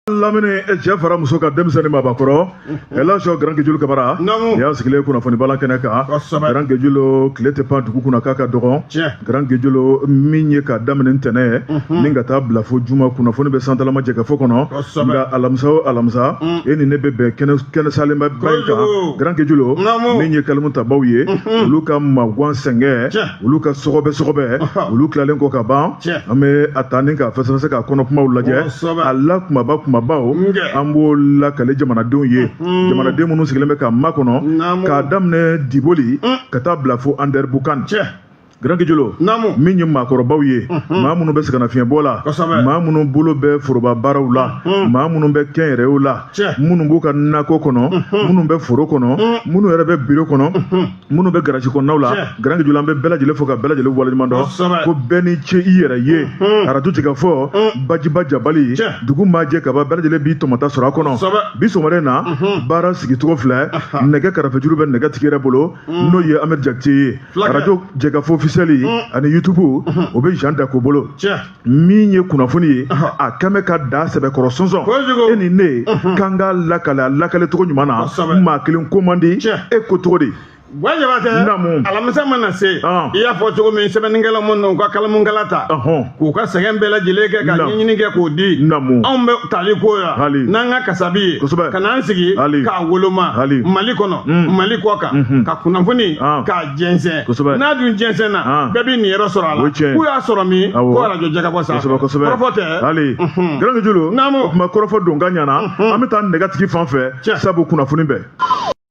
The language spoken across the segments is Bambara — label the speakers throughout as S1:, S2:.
S1: lamini cɛ fara muso kan denmisɛn ni mabakɔrɔ ɛlaji Grand Gejulu kamara y'a sigilen kunnafoni bala kɛnɛ kan Grand Gejulu tile tɛ pan dugu kunna k'a ka dɔgɔn Grand Gejulu min ye ka daminɛ ntɛnɛn mhm. ni ka taa bila fo juma kunnafoni bɛ santalama jɛkafɔ kɔnɔ nka alamisa o alamisa mm. e ni ne bɛ bɛn kɛnɛ salenba ba in kan Grand Gejulu min ye kalimu tabaw ye mhm. olu ka magwan sɛngɛ olu ka sɔgɔbɛ sɔgɔbɛ olu tilalen kɔ ka ban an bɛ a ta ni ka fɛsɛfɛsɛ ka kɔnɔ kumaw lajɛ a la kumaba kumabaw an b'o lakale jamanadenw ye jamanaden minnu sigilen bɛ k'a makɔnɔ k'a daminɛ diboli ka taa bila fo andɛribukan Grand Gejulu min ye maakɔrɔbaw ye maa minnu bɛ sɛgɛnnafiɲɛbɔ la maa minnu bolo bɛ foroba baaraw la maa minnu bɛ kɛnyɛrɛyew la minnu b'u ka nakɔ kɔnɔ minnu bɛ foro kɔnɔ minnu yɛrɛ bɛ biro kɔnɔ minnu bɛ garaji kɔnɔnaw la Grand Gejulu an bɛ bɛɛ lajɛlen fo ka bɛɛ lajɛlen waleɲuman dɔn ko bɛɛ ni ce i yɛrɛ ye arajo jɛkafɔ bajiba jabali dugu majɛ kaba bɛɛ lajɛlen b'i tɔmɔta sɔrɔ a kɔnɔ bi sɔgɔmada na baara sigicogo filɛ nɛgɛ karafejuru bɛ nɛgɛ tigi yɛrɛ bolo n'o ye Ahmed jakite ye arajo jɛkafɔ ofisiyɛli ani yutubu o bɛ jan dako bolo min ye kunnafoni ye a kɛn bɛ ka da sɛbɛkɔrɔ sɔnsɔn e ni ne kan k'a lakale a lakale cogo ɲuman na maa kelen ko man di e ko cogo di wa
S2: jabatɛ alamisa mana se i y'a fɔ cogo min sɛbɛnnikɛla minnu na u ka kalamunkala ta k'u ka sɛgɛn bɛɛ lajɛlen kɛ ka ɲɛɲini kɛ k'o di anw bɛ tali k'o la n'an ka kasabi ye ka n'an sigi k'a woloma mali kɔnɔ mali kɔkan ka kunnafoni k'a jɛnsɛn kosɛbɛ n'a dun jɛnsɛnna bɛɛ b'i niyɔrɔ sɔrɔ a la k'u y'a sɔrɔ min ko arajo jɛkafɔ sa kosɛbɛ kosɛbɛ kɔrɔfɔ tɛ ɛlaji Grand Gejulu
S1: naamu o tuma kɔrɔfɔ don ka ɲana an bɛ taa nɛgɛtigi fan fɛ sabu kunnafoni
S2: bɛɛ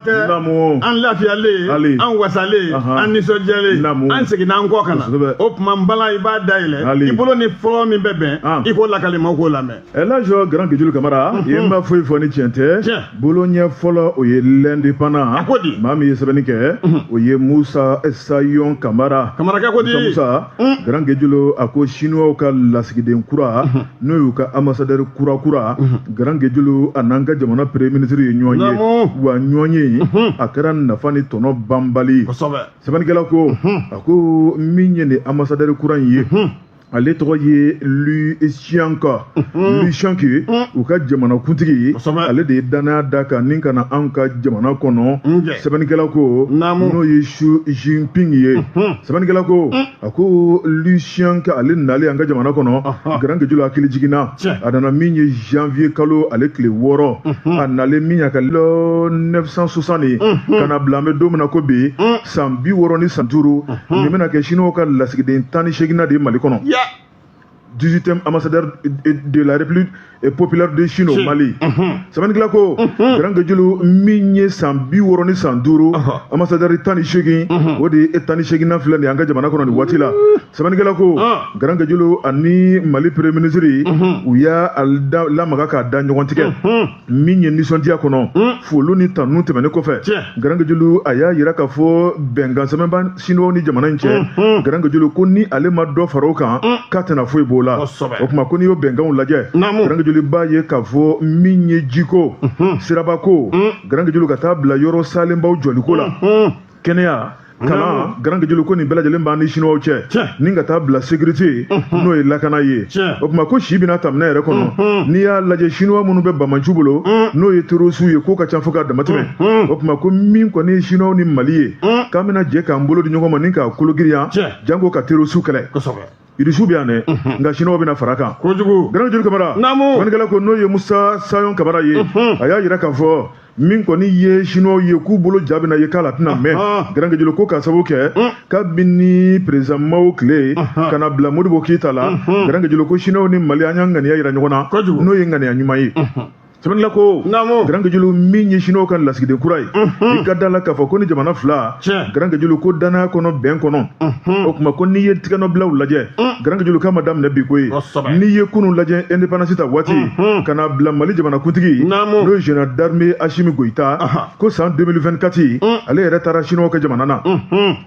S2: an lafiyalen an wasalen an nisɔndiyalen an seginna an kɔ ka na o tuma n bala i b'a dayɛlɛ i bolo ni fɔlɔ min bɛ bɛn i k'o lakali maaw k'o lamɛn ɛlaji Grand
S1: Gejulu kamara i ma foyi fɔ ni tiɲɛ tɛ Tiɲɛ. bolo ɲɛ fɔlɔ o ye L'Indépendant A ko di? maa min ye sɛbɛnni kɛ o ye musa sayon kamara kamarakɛ ko di Musa Musa, Mm.
S2: Grand
S1: Gejulu a ko Chinois ka lasigiden kura n'o y'u ka ambassadeur kura kura Grand Gejulu a n'an ka jamana premier ministre ye ɲɔgɔn ye Naamu. wa ɲɔgɔn ye a kɛra nafa ni tɔnɔ banbali ye. kosɛbɛ sɛbɛnnikɛla ko a ko min ye nin ambassadeur kura in ye ale tɔgɔ ye Li Xiang Li Xiang ye u ka jamana kuntigi ye Kosɛbɛ. ale de ye danaya d'a kan ni ka na anw ka jamana kɔnɔ Njɛ. sɛbɛnnikɛla ko Naamu. n'o ye Xi Jinping ye sɛbɛnnikɛla ko a ko Li Xiang ale nalen an ka jamana kɔnɔ Ɔhɔ. Grand Gejulu hakilijigin na Tiɲɛ. a nana min ye janvier kalo ale tile wɔɔrɔ a nalen min y'a ka lɔ 960 ye ka na bila an bɛ don min na ko bi san bi wɔɔrɔ ni san duuru nin bɛna kɛ siniwaw ka lasigiden tan ni seeginnan de ye mali kɔnɔ dix-huitième ambassadeur de la République populaire de Chine au mali sɛbɛnnikɛla ko garankejulu min ye san bi wɔɔrɔ ni san duuru ambassadeur tan ni seegin o de ye tan ni seeginnan filɛ nin an ka jamana kɔnɔ nin waati la sɛbɛnnikɛla ko garankejulu ani mali premier ministre u y'a lamaga k'a da ɲɔgɔn tigɛ min ye nisɔndiya kɔnɔ hmm. foli ni tanu tɛmɛnen kɔfɛ garankejulu a y'a yira k'a fɔ bɛnkan sɛbɛnba siniwaw ni jamana in cɛ hmm, hmm. garankejulu ko ni ale ma dɔ fara o kan k'a tɛna foyi b'o la o tuma ko n'i y'o bɛnkanw lajɛ garankejulu b'a ye k'a fɔ min ye jiko sirabako garankejulu ka taa bila yɔrɔ salenbaw jɔliko la kɛnɛya kalan garankejulu ko nin bɛɛ lajɛlen b'an ni siniwaw cɛ ni ka taa bila sécurité n'o ye lakana ye o tuma ko si bɛna taminɛ yɛrɛ kɔnɔ n'i y'a lajɛ siniwa minnu bɛ banbaanciw bolo n'o ye terosiw ye k'o ka ca fo ka damatɛmɛ o tuma ko min kɔni ye siniwaw ni mali ye k'an bɛna jɛ k'an bolo di ɲɔgɔn ma ni k'a kologiriya janko ka terosiw kɛlɛ irisiw bɛ yan dɛ nka siniwaw bɛna fara kan kojugu garankejulu kamara naamu sɛbɛnnikɛla ko n'o ye musa sayon kamara ye a y'a yira k'a fɔ min kɔni ye siniwaw ye k'u bolo ja bɛna ye k'a la tɛna mɛn garankejulu ko k'a sababu kɛ kabini président Mao tile ka na bila modibo keyita la garankejulu ko siniwaw ni mali an y'an ŋaniya yira ɲɔgɔn na n'o ye ŋaniya ɲuman ye sɛbɛnnikɛla ko naamu garankejulu min ye siniwaw ka lasigiden kura ye i ka da la k'a fɔ ko ni jamana fila Tiɲɛ. garankejulu ko danaya kɔnɔ bɛn kɔnɔ o tuma ko n'i ye tigɛnɔbilaw lajɛ garankejulu k'a ma daminɛ bi koyi Kosɛbɛ. n'i ye kunun lajɛ indépendance ta waati ka na bila mali jamanakuntigi Naamu. n'o ye général d'armée asimi goyita Aha. ko san 2024 ale yɛrɛ taara siniwaw ka jamana na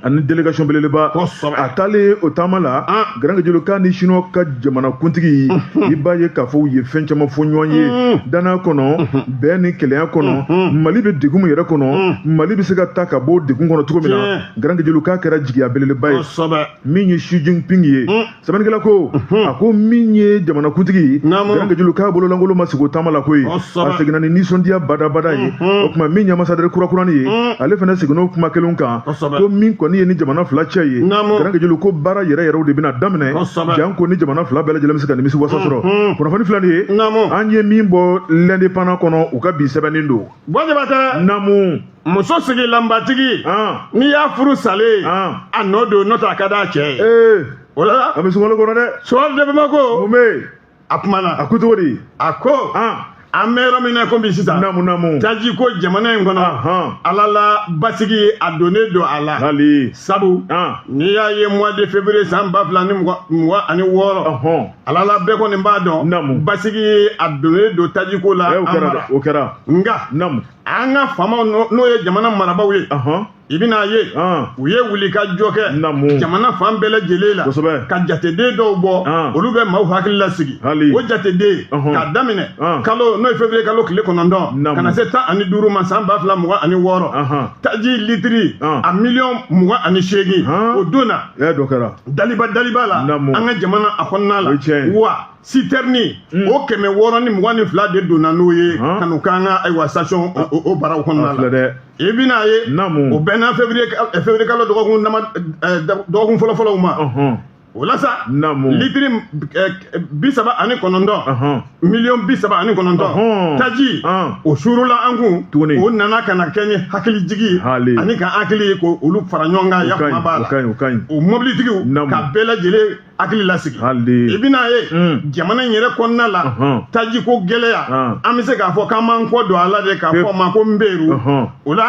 S1: ani délégation belebeleba Kosɛbɛ. a taalen o taama la Ah. garankejulu k'a ni siniwaw ka jamanakuntigi i b'a ye k'a fɔ u ye fɛn caman fɔ ɲɔgɔn ye mm-hmm. danaya kɔnɔ mm-hmm. bɛn ni kelenya kɔnɔ mm-hmm. mali bɛ degun min yɛrɛ kɔnɔ mali bɛ se ka ta ka bɔ degun kɔnɔ cogo min na garankejulu k'a kɛra jigiya belebeleba ye min ye Xi Jinping ye mm. sɛbɛnnikɛla ko a ko min ye jamanakuntigi garankejulu k'a bololankolon ma segin o taama la koyi a seginna ni nisɔndiya badabada ye o tuma min ye ambassadeur kurakurani ye mm. ale fana seginna o kuma kelen kan kosɛbɛ ko min kɔni ye ni jamana fila cɛ ye garankejulu ko baara yɛrɛ yɛrɛw de bɛna daminɛ janko ni jamana fila bɛɛ lajɛlen bɛ se ka nimisi wasa sɔrɔ kunnafoni filɛ nin ye an ye min bɔ L'Indépendant kɔnɔ u ka bi sɛbɛnnen don bɔjabatɛ namu
S2: muso sigilanbatigi n'i y'a furu salen a nɔ don n'o tɛ a ka d'a cɛ ye o la a bɛ sunkalo kɔnɔ dɛ
S1: sunkalo de bamako
S2: mun bɛ yen
S1: a kumana a
S2: ko cogo di
S1: a
S2: ko an bɛ yɔrɔ min na komi sisan namu namu taji
S1: ko jamana
S2: in kɔnɔ ala la basigi a donnen don a la hali sabu n'i y'a ye mois de février san ba fila ni mugan ani wɔɔrɔ ala la bɛɛ kɔni b'a dɔn namu basigi a donnen don taji ko la an mara o kɛra
S1: nka namu
S2: an ka faamaw n'o ye jamana marabaaw ye i bɛna ye u ye wulikajɔ kɛ jamana fan bɛɛ lajɛlen la ka jateden dɔw bɔ olu bɛ maaw hakili lasigi o jateden k'a daminɛ kalo n'o ye fevrier kalo tile kɔnɔntɔn ka na se tan ani duuru ma san ba fila mugan ani wɔɔrɔ taji litiri a miliyɔn mugan ani seegin o donna daliba daliba la an ka jamana a kɔnɔna la wa sitɛrini hmm. o kɛmɛ wɔɔrɔ ni mugan ni fila de donna n'o ye ka n'u k'an ka ayiwa station o baraw kɔnɔna la i bɛna ye o bɛnna fevrier kalo dɔgɔkun dɔgɔkun fɔlɔfɔlɔw ma o la sa litiri bi saba ani kɔnɔntɔn miliyɔn bi saba ani kɔnɔntɔn taji o suurula an kun tuguni o nana ka na kɛ ni hakilijigi ani ka hakili ye ko olu fara ɲɔgɔn kan yafa b'a la o mɔbilitigiw ka bɛɛ lajɛlen hakili lasigi i bɛna ye hmm. jamana in yɛrɛ kɔnɔna la tajiko gɛlɛya an bɛ se k'a fɔ k'an m'an kɔ don a la dɛ k'a fɔ a ma ko nberu o la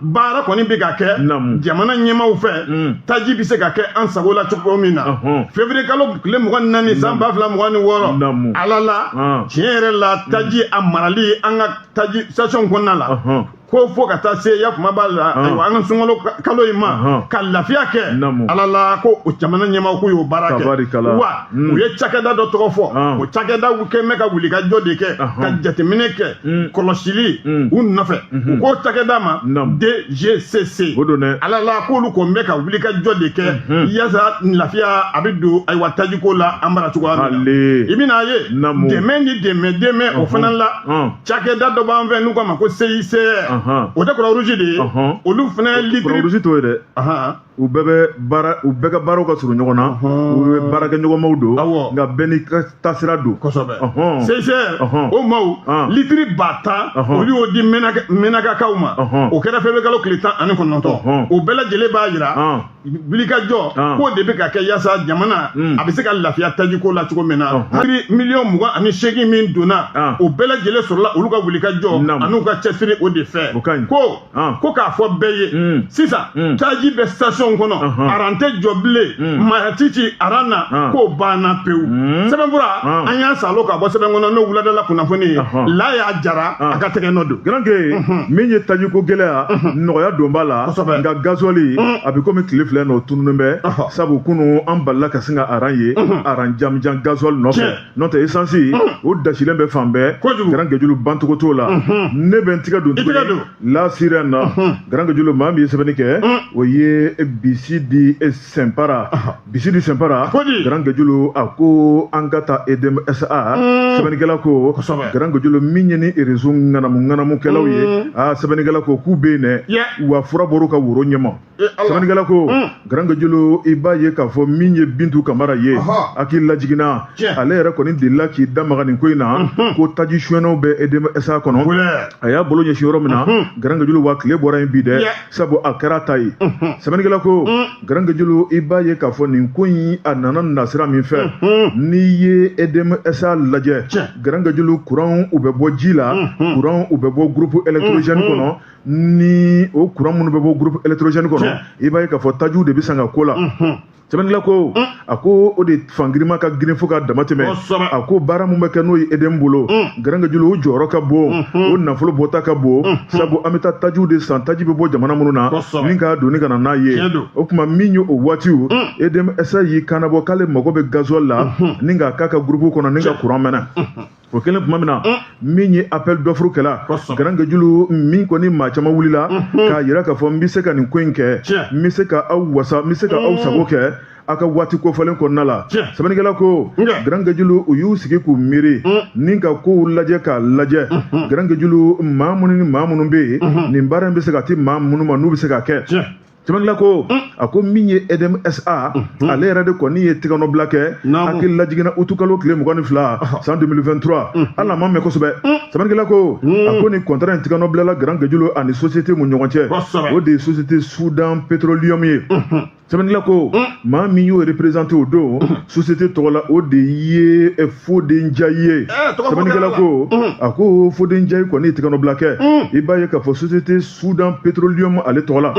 S2: baara kɔni bɛ ka kɛ jamana ɲɛmaaw fɛ hmm. taji bɛ se ka kɛ an sago la cogo min na fevrier kalo tile mugan ni naani san ba fila mugan ni wɔɔrɔ ala la tiɲɛ yɛrɛ la taji a marali an ka taji station kɔnɔna la ko fo ka taa se ya kuma b'a la ayiwa an ka sunkalo kalo in ma ka lafiya kɛ ala la ko o jamana ɲɛmaaw k'u y'o baara kɛ wa u ye cakɛda dɔ tɔgɔ fɔ o cakɛda kɛlen bɛ ka wulikajɔ de kɛ ka jateminɛ kɛ kɔlɔsili u nɔfɛ u k'o cakɛda ma DGCC ala la k'olu kɔni bɛ ka wulikajɔ de kɛ yasa lafiya a bɛ don ayiwa tajiko la an bara cogoya min na i bɛna ye dɛmɛ ni dɛmɛ dɛmɛ o fana la cakɛda dɔ b'an fɛ n'u k'a ma ko CICR Ahan. o tɛ croix rouge de ye Ɔhɔn. olu fana croix rouge t'o ye dɛ
S1: Ahan. u bɛɛ bɛ baara u bɛɛ ka baaraw ka surun ɲɔgɔn na Ɔhɔn. u bɛɛ baarakɛɲɔgɔnmaw don Awɔ. nka bɛɛ n'i ka taasira don kosɛbɛ Ɔhɔn.
S2: CICR Ɔhɔn. o maaw Ɔn. litiri ba tan Ɔhɔn. olu y'o di Mɛnaka- mɛnakakaw ma Ɔhɔn. o kɛra fevrier kalo tile tan ani kɔnɔntɔn Ɔhɔn. o bɛɛ lajɛlen b'a jira Ɔn. wulikajɔ ah. k'o de bɛ ka kɛ yasa jamana hmm. a bɛ se ka lafiya tajiko la cogo min na oh. litiri miliyɔn mugan ani seegin min donna ah. o bɛɛ lajɛlen sɔrɔla olu ka wulikajɔ an'u ka cɛsiri o de fɛ ko ah. ko k'a fɔ bɛɛ ye hmm. sisan hmm. taji bɛ station kɔnɔ aran tɛ jɔ bilen mayatiti aran na k'o banna pewu sɛbɛnfura an y'a salo ka bɔ sɛbɛn kɔnɔ n'o wuladala kunnafoni ye Laya Jara a ka tɛgɛ nɔ don garanke min
S1: ye tajiko gɛlɛya nɔgɔya don b'a la nka gazɔli a bɛ komi tile fila in o tununen bɛ sabu kunu an balala ka sin ka aran ye aran janjan gazɔli nɔfɛ n'o tɛ esansi o dasilen bɛ fan bɛɛ garankejulu bancogo t'o la ne bɛ n tigɛ don tuguni La Sirène na garankejulu maa min ye sɛbɛnni kɛ o ye Bisidi Senpara Bisiri senpara garankejulu a ko an ka taa EDM SA sɛbɛnnikɛla ko garankejulu min ye ni réseau ŋanamuŋanamukɛlaw ye aa sɛbɛnnikɛla ko k'u bɛ yen dɛ wa fura bɔr'u ka woro ɲɛ ma sɛbɛnnikɛla ko garankejulu i b'a ye k'a fɔ min ye bintu kamara ye hakili lajiginna ale yɛrɛ kɔni delila k'i da maga nin ko in na ko taji sonyɛnnaw bɛ EDM SA kɔnɔ a y'a bolo ɲɛsin yɔrɔ min na garankejulu wa tile bɔra yen bi dɛ sabu a kɛra ta ye sɛbɛnnikɛla ko garankejulu i b'a ye k'a fɔ nin ko in a nana nasira min fɛ n'i ye edm sa lajɛ garankejulu kuranw u bɛ bɔ ji la kuranw u bɛ bɔ groupe électrogène kɔnɔ ni o kuran minnu bɛ bɔ groupe électrogène kɔnɔ i b'a ye k'a fɔ tajiw de bɛ san ka k'o la sɛbɛnnikɛla ko a ko o de fangirima ka girin fo ka dama tɛmɛ a ko baara min bɛ kɛ n'o ye EDM bolo mm. garankejulu o jɔyɔrɔ ka bon mm-hmm. o nafolo bɔta ka bon mm-hmm. sabu an bɛ taa tajiw de san taji bɛ bɔ jamana minnu na ni k'a doni ka na n'a ye o tuma min ye o waatiw mm. EDM SA y'i kannabɔ k'ale mago bɛ gazuwali la mm-hmm. ni k'a k'a ka gurupu kɔnɔ ni ka kuran mɛnɛ o kelen tuma min na min ye appel d'offre kɛla garankejulu min kɔni maa caman wulila k'a yira k'a fɔ n bɛ se ka nin ko in kɛ n bɛ se ka aw wasa n bɛ se ka aw sago kɛ aw ka waati kofɔlen kɔnɔna la sɛbɛnnikɛla ko garankejulu u y'u sigi k'u miiri ni ka kow lajɛ k'a lajɛ garankejulu maa minnu ni maa minnu bɛ yen nin baara in bɛ se ka di maa minnu ma n'u bɛ se k'a kɛ Sɛbɛnnikɛla ko mm. a ko min ye EDM SA mm-hmm. ale yɛrɛ de kɔni ye tɛgɛnɔbila kɛ hakili lajiginna utukalo tile mugan ni fila ah. san 2023 mm. hali a ma mɛn kosɛbɛ mm. sɛbɛnnikɛla ko a ko nin kɔntara in tɛgɛnɔbilala garankejulu ani sosiyete min ɲɔgɔn cɛ o de ye sosiyete sudan petroliyɔmu ye mm-hmm. sɛbɛnnila ko maa min y'o reprezante o don mm-hmm. sosiyete tɔgɔ la o de ye eh, Fode Njayi ye eh, sɛbɛnnikɛla ko a ko Fode Njayi kɔni ye tɛgɛnɔbila kɛ i b'a ye k'a fɔ sosiyete sudan petrolium ale tɔgɔ la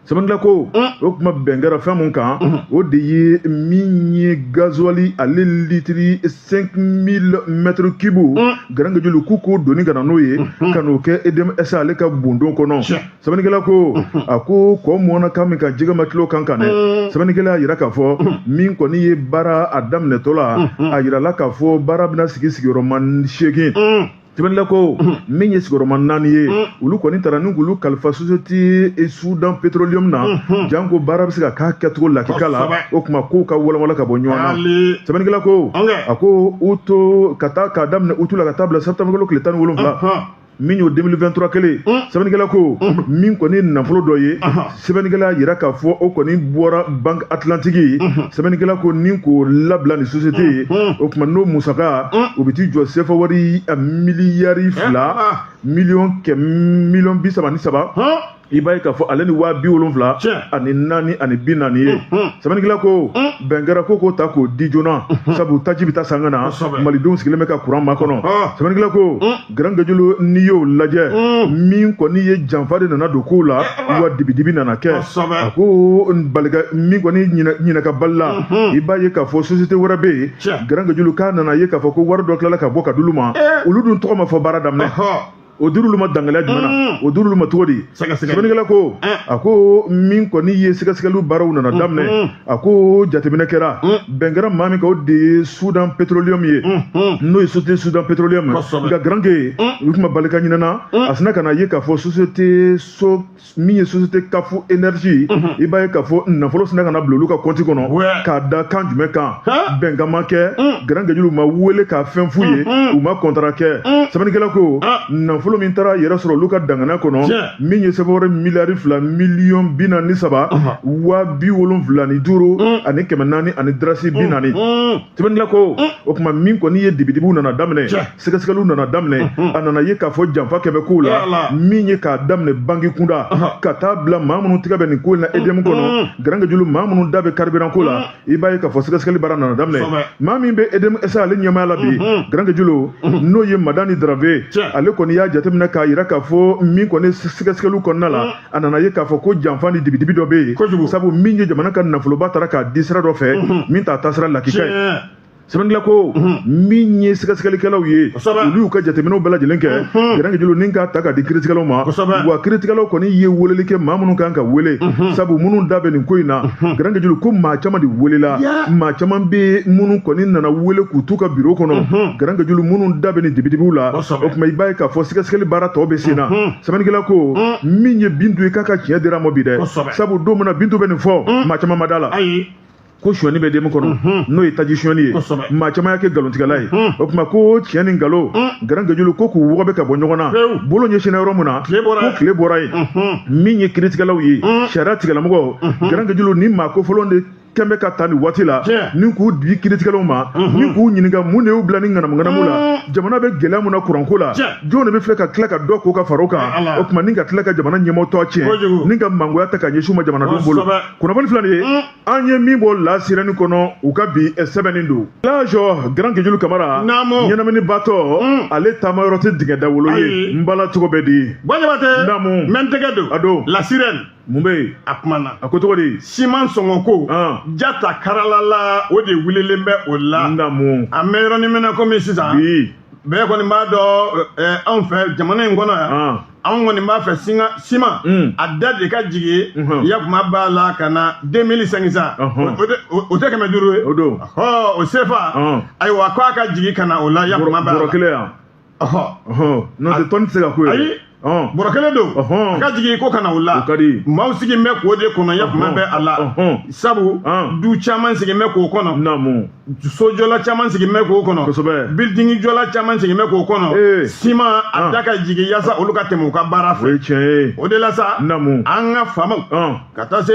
S1: sɛbɛnnikɛla ko o tuma bɛn kɛra fɛn min kan o de ye min ye gazuwali ale litiri 5000 mètres cubes garankejulu k'u k'o doni ka na n'o ye ka n'o kɛ EDM SA ale ka bondon kɔnɔ sɛbɛnnikɛla ko a ko kɔ mɔnna kan min kan jɛgɛ ma til'o kan kan dɛ sɛbɛnnikɛla y'a yira k'a fɔ min kɔni ye baara a daminɛtɔ la a yirala k'a fɔ baara bɛna sigi sigiyɔrɔma seegin sɛbɛnnikɛla ko min ye sigiyɔrɔma naani ye olu kɔni taara ni k'olu kalifa sosiyete sudan petroliyɔmu na janko baara bɛ se ka k'a kɛcogo lakika la o tuma kow ka walawala ka bɔ ɲɔgɔn na sɛbɛnnikɛla ko a ko u to ka taa k'a daminɛ utu la ka taa bila septembre kalo tile tan ni wolonwula min y'o 2023 kelen sɛbɛnnikɛla ko min kɔni nafolo dɔ ye sɛbɛnnikɛla y'a yira k'a fɔ o kɔni bɔra banque atlantique sɛbɛnnikɛla ko ni k'o labila ni société ye o kuma n'o musaka o bɛ t'i jɔ sefa wari miliyari fila miliyɔn kɛ miliyɔn bi saba ni saba i b'a ye k'a fɔ ale ni waa bi wolonfila ani naani ani bi naani ye sɛbɛnnikɛla ko bɛn kɛra ko k'o ta k'o di joona sabu taji bɛ taa san ka na malidenw sigilen bɛ ka kuran makɔnɔ sɛbɛnnikɛla ko garanke julu n'i y'o lajɛ min kɔni ye janfa de nana don kow la wa dibidibi nana kɛ a ko min kɔni ɲinɛka bali la i b'a ye k'a fɔ société wɛrɛ bɛ yen garanke julu k'a nana ye k'a fɔ ko wari dɔ tilala ka bɔ ka d'olu ma olu dun tɔgɔ ma fɔ baara daminɛ o dir'olu ma dangaliya jumɛn na o dir'olu ma cogo di sɛbɛnnikɛla ko a ko min kɔni ye sɛgɛsɛgɛliw baaraw nana daminɛ a ko jateminɛ kɛra bɛn kɛra maa min kan o de ye soudan petroleum ye n'o ye société soudan petroleum nka garanke julu kuma bali ka ɲinɛna a sina ka na ye k'a fɔ société so min ye société kafu énergie i b'a ye k'a fɔ nafolo sina ka na bila olu ka kɔnti kɔnɔ k'a da kan jumɛn kan bɛnkan ma kɛ garanke julu ma wele ka fɛn f'u ye u ma kɔntara kɛ sɛbɛnnikɛla ko nafolo min taara yɛrɛ sɔrɔ olu ka dangana kɔnɔ min ye sefa wari miliyari fila miliyɔn bi naani ni saba waa bi wolonfila ni duuru mm. ani kɛmɛ naani ani darasi bi mm. naani mm. sɛbɛnnikɛla ko o kuma min kɔni ye dibidibiw nana daminɛ sɛgɛsɛgɛliw nana daminɛ mm-hmm. a nana ye k'a fɔ janfa kɛlen bɛ kow la min ye k'a daminɛ banki kunda ka taa bila maa minnu tɛgɛ bɛ nin ko in na edm kɔnɔ garanke julu maa minnu da bɛ karibiran ko la i b'a ye k'a fɔ sɛgɛsɛgɛli baara nana daminɛ maa min bɛ edm sa ale ɲɛmaaya la bi garanke julu n'o ye madani dravé ale kɔni y'a jateminɛ k'a yira k'a fɔ min kɔni sɛgɛsɛgɛliw kɔnɔna la a nana ye k'a fɔ ko janfa ni dibidibi dɔ bɛ yen sabu min ye jamana ka nafoloba taara k'a di sira dɔ fɛ min t'a taasira lakika ye sɛbɛnnikɛla ko min ye sɛgɛsɛgɛlikɛlaw ye olu y'u ka jateminɛw bɛɛ lajɛlen kɛ garanke julu ni k'a ta k'a di kiiritigɛlaw ma wa kiiritigɛlaw kɔni ye weleli kɛ maa minnu kan ka wele sabu minnu da bɛ nin ko in na garanke julu ko maa caman de welela maa caman bɛ minnu kɔni nana wele k'u t'u ka biro kɔnɔ garanke julu minnu da bɛ nin dibidibiw la o kuma i b'a ye k'a fɔ sɛgɛsɛgɛli baara tɔ bɛ sen na sɛbɛnnikɛla ko min ye bintu ye k'a ka tiɲɛ dir'a ma bi dɛ sabu don min na bintu bɛ nin fɔ maa caman ma da la ko sonyɛni bɛ edm kɔnɔ mhm. n'o ye taji sonyɛni ye maa caman y'a kɛ nkalontigɛla ye mhm. o tuma ko tiɲɛ ni nkalon mhm. garanke julu ko k'u wɔgɔbɛ ka bɔ ɲɔgɔn na bolo ɲɛsinna yɔrɔ min na ko tile bɔra yen min ye kiiritigɛlaw ye sariya tigilamɔgɔ garanke julu nin maa kofɔlen de kɛn bɛ ka ta nin waati la ni k'u di kiiritigɛlaw ma ni k'u ɲininka mun de y'u bila nin ŋanamuŋanamu la jamana bɛ gɛlɛya min na kuranko la jɔn de bɛ filɛ ka tila ka dɔ ko ka far'o kan o tuma ni ka tila ka jamana ɲɛmɔgɔ tɔgɔ tiɲɛ ni ka mangoya ta ka ɲɛsin u ma jamanadenw bolo kunnafoni filɛ nin ye an ye min bɔ la sirɛni kɔnɔ u ka bi eh, sɛbɛnni don lajɔ gran kejulu kamara ɲɛnamini batɔ mm. ale taama yɔrɔ tɛ dingɛ dawolo ye n bala cogo bɛ di buwa jabatɛ namu mɛ
S2: n tɛgɛ don a don la sirɛni
S1: mun
S2: bɛ yen
S1: a kumana a ko cogo
S2: di
S1: siman sɔngɔ
S2: ko jata karalala o de wulilen bɛ o la namu an bɛ yɔrɔnin
S1: min
S2: na komi sisan bi bɛɛ kɔni b'a dɔn eh, anw fɛ jamana in kɔnɔ yan anw kɔni b'a fɛ singa siman mm. a da de ka jigin mm-hmm. ya kuma b'a la ka na 2500 uh-huh. o tɛ kɛmɛ duuru ye
S1: o sefa
S2: uh-huh. ayiwa ko a ka jigin ka na o la ya kuma b'a la bɔrɔ kelen
S1: yan uh-huh. n'o tɛ tɔni tɛ se ka k'o ye ayi
S2: bɔrɔ kelen don a ka jigin ko ka na o la maaw sigilen bɛ k'o de kɔnɔ ya kuma bɛ a la sabu du caman sigilen bɛ k'o kɔnɔ sojɔla caman sigin bɛ k'o kɔnɔ kosɛbɛ bildingi jɔla caman sigin bɛ k'o kɔnɔ ee siman a ah. da ka jigin yaasa olu ka tɛmɛ u ka baara fɛ o ye tiɲɛ ye o de la sa
S1: namu
S2: an ka faamaw ah. ka taa se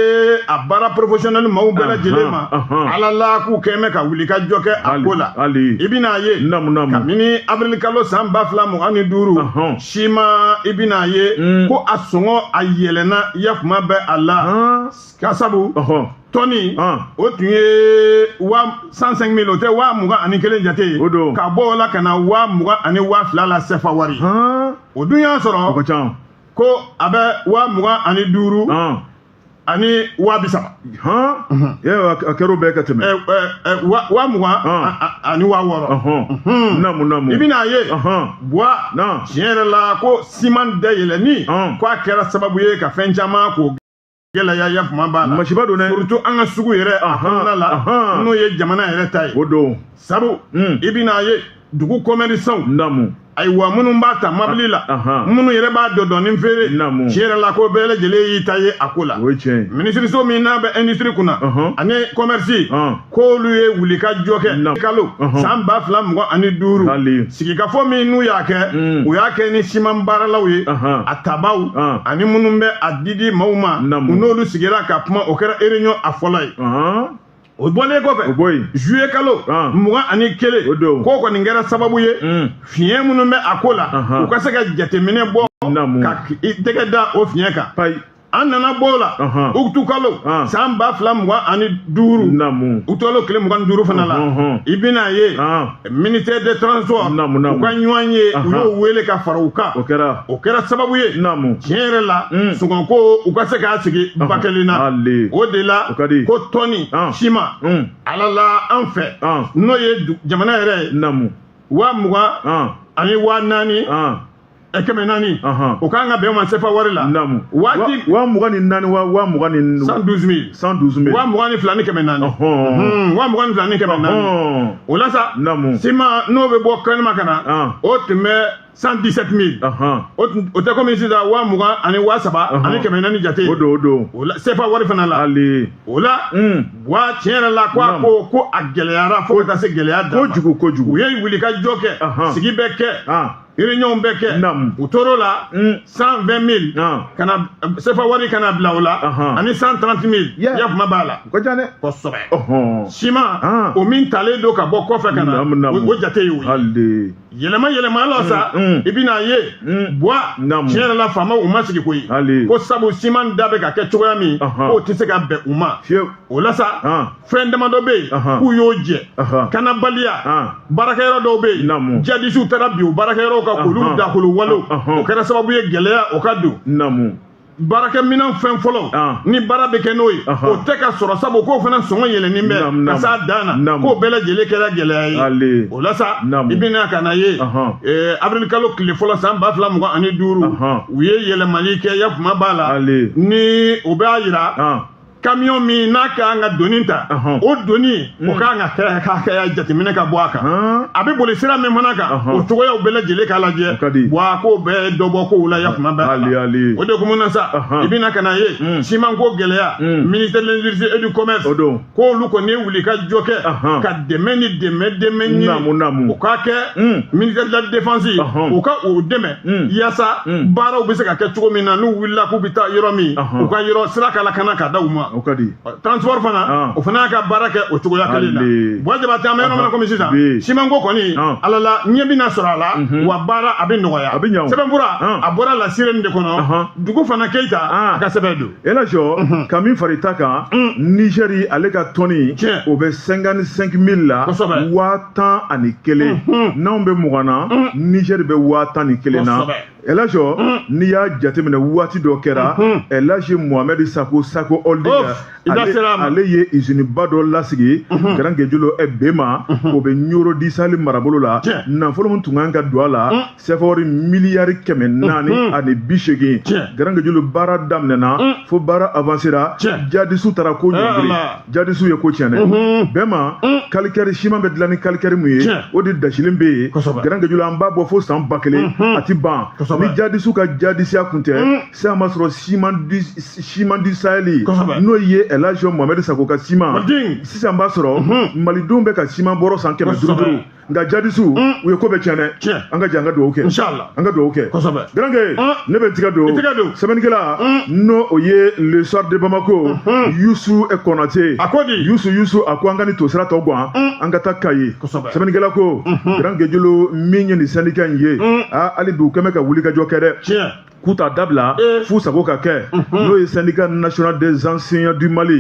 S2: a baara porofosiyɔnɛli maaw bɛɛ lajɛlen ma ala la k'u kɛn bɛ ka wulikajɔ kɛ a ko la hali i bɛna a ye namu namu kabini avril kalo san ba fila mugan ni duuru siman i bɛna a ye hmm. ko a sɔngɔ a yɛlɛnna ya kuma bɛ a la ka sabu tɔni o tun ye wa cent cinq mille o tɛ wa mugan ani kelen jate ye o don ka bɔ o la ka na wa mugan ani wa fila la sɛfa wari o dun y'a sɔrɔ o ka ca ko a bɛ wa mugan ani duuru ani wa bi
S1: saba a kɛr'o bɛɛ ka tɛmɛ wa
S2: mugan ani wa wɔɔrɔ namu namu i bɛna a ye buwa tiɲɛ yɛrɛ la ko siman dayɛlɛnni ko a kɛra sababu ye ka fɛn caman ko gɛlɛya ya kuma b'a la masiba don dɛ surtout an
S1: ka sugu
S2: yɛrɛ a kɔnɔna la ahan. n'o ye jamana yɛrɛ ta ye o don sabu
S1: Mm. i
S2: bɛna a ye dugu commerçants namu ayiwa minnu b'a ta mabili la ahan. minnu yɛrɛ b'a dɔɔnin dɔɔnin feere Naamu. tiɲɛ yɛrɛ la ko bɛɛ lajɛlen y'i ta ye a ko la o ye tiɲɛ ye minisiriso min n'a bɛ industrie kunna Ahan. ani commerce Ahan. k'olu ye wulikajɔ kɛ kalo san ba fila mugan ani duuru sigikafɔ min n'u y'a kɛ u y'a kɛ ni siman baaralaw ye a tabaw ani minnu bɛ a didi maaw ma u n'olu sigira ka kuma o kɛra réunion a fɔlɔ ye o bɔlen kɔfɛ o bɔ yen juillet kalo ah. mugan ani kelen o don k'o kɔni kɛra sababu ye hmm. fiɲɛ minnu bɛ a ko la u ka se ka jateminɛ bɔ ka i tɛgɛ da o fiɲɛ kan an nana bɔ o la Ɔhɔn. utikalo Ɔn. san ba fila mugan ani duuru Namu. utikalo tile mugan ni duuru fana la Ɔhɔn. i bɛna a ye Ɔn. ministère des transports Namu, namu. u ka ɲɔgɔnye u Ɔhɔn. y'o wele ka fara u kan O kɛra. o kɛra sababu ye Namu. tiɲɛ yɛrɛ la Mm. sɔngɔko u ka se k'a sigi ba kelen na Ale. o de la O ka di. ko tɔni Ɔn. siman Mm. ala la an fɛ Ɔn. n'o ye du- jamana yɛrɛ ye Namu. waa mugan Ɔn. ani waa naani Ɔn. kɛmɛ naani o kan ka bɛn ma sefa wari la waati wa mugan ni naani
S1: wa mugan ni cent douze mille cent douze mille wa mugan ni fila ni kɛmɛ naani
S2: wa mugan ni fila ni kɛmɛ naani o la sa siman n'o bɛ bɔ kɛnɛma ka na o tun bɛ cent dix sept mille o tɛ komi sisan wa mugan ani wa saba ani kɛmɛ naani jate o don o don o la sefa wari fana la ale o la wa tiɲɛ yɛrɛ la ko a ko ko a gɛlɛyara fo ka taa se gɛlɛya dan ma kojugu kojugu u ye wuli ka
S1: jɔ kɛ
S2: sigi bɛɛ kɛ réunion bɛɛ kɛ u tor'o la cent vingt mille ka na sefa wari ka n'a bila o la ani cent trente mille yafama b'a la kosɛbɛ siman o min talen don ka bɔ kɔfɛ ka na o jate y'o ye yɛlɛma yɛlɛma la sa i bɛn'a ye bon tiɲɛ yɛrɛ la faamaw ma sigi koyi ko sabu siman da bɛ ka kɛ cogoya min k'o tɛ se ka bɛn u ma o la sa fɛn damadɔ bɛ yen k'u y'o jɛ kanabaliya baarakɛyɔrɔ dɔw bɛ yen jadisiw taara bin o baarakɛyɔrɔw kan k'olu dakolon walew o kɛra sababu ye gɛlɛya o ka don baarakɛminɛn fɛn fɔlɔ ah. ni baara bɛ kɛ n'o ye o tɛ ka sɔrɔ sabu k'o fana sɔngɔ yɛlɛnnen bɛ ka s'a dan na k'o bɛɛ lajɛlen kɛra gɛlɛya ye o la sa i bɛna ka n'a ye eh, avril kalo tile fɔlɔ san ba fila mugan ani duuru u ye yɛlɛmali kɛ yafama b'a la ni o b'a yira ah. kamiyɔn min n'a ka kan ka doni ta o doni o ka kan ka hakɛya jateminɛ ka bɔ a kan a bɛ boli sira min fana kan o cogoyaw bɛɛ lajɛlen k'a lajɛ wa k'o bɛɛ dɔ bɔ kow la yafama b'a la o de kun na sa i bɛna ka n'a ye simanko gɛlɛya ministère de l'industrie et du commerce k'olu kɔni ye wuli ka jɔ kɛ ka dɛmɛ ni dɛmɛ dɛmɛ ɲini o ka kɛ ministère de la défense ye o ka o dɛmɛ Mm. yasa mm. baaraw bɛ se ka kɛ cogo min na n'u wulila k'u bɛ taa yɔrɔ min u ka yɔrɔ sira ka lakana ka da u ma transport fana ah. o fana y'a ka baara kɛ o cogoya kelen na bon jabatɛ an bɛ yɔrɔ min na komi sisan simanko kɔni ah. ala la ɲɛ bɛna sɔrɔ a la mhm. wa baara a bɛ nɔgɔya sɛbɛnfura ah. a bɔra la sirène de kɔnɔ dugufana keyita a ka sɛbɛn don ɛlajɔ mhm. ka min far'i ta kan
S1: mm. nizɛri ale ka tɔni o bɛ cinquante cinq mille la waa tan ani kelen n'anw bɛ mugan na nizɛri bɛ waa tan ni kelen na ɛlajɔ n'i y'a jateminɛ waati dɔ kɛra ɛlaji muhamɛdi sako sako holding ale ye iziniba dɔ lasigi garangejulo bema o bɛ ɲoro du sahel marabolo la nafolo min tun kan ka don a la sefa wari miliyari kɛmɛ naani ani bi seegin garankejulu baara daminɛna fo baara avansera jadisiw taara ko ɲɔngiri jadisiw ye ko tiɲɛ dɛ bema kalikɛri siman bɛ dilan ni kalikɛri min ye o de dasilen bɛ yen garankejulu an b'a bɔ fo san ba kelen a ti ban ni jadisiw ka jadisiya kun tɛ sisan b'a sɔrɔ siman du sahel n'o ye ɛlajɔ muhamɛdi sako ka siman sisan b'a sɔrɔ malidenw bɛ ka siman bɔrɔ san kɛmɛ duuru duuru nka jadisu mm. u ye ko bɛɛ tiɲɛ dɛ tiɲɛ an ka jɛ an ka dugawu kɛ inshallah an ka dugawu kɛ kosɛbɛ garanke mm. ne bɛ tiga don tiga don sɛbɛnnikɛla mm. n'o o ye le soir de bamako mm-hmm. yusu konate a ko di yusu yusu a ko an ka nin tosira tɔ gan an ka taa kayi kosɛbɛ sɛbɛnnikɛla ko mm-hmm. garankejulu min ye nin sɛndika in ye aa ah, hali bi u kɛn bɛ ka wulikajɔ kɛ dɛ tiɲɛ k'u t'a dabila f'u sago ka kɛ n'o ye syndicat national des enseignants du mali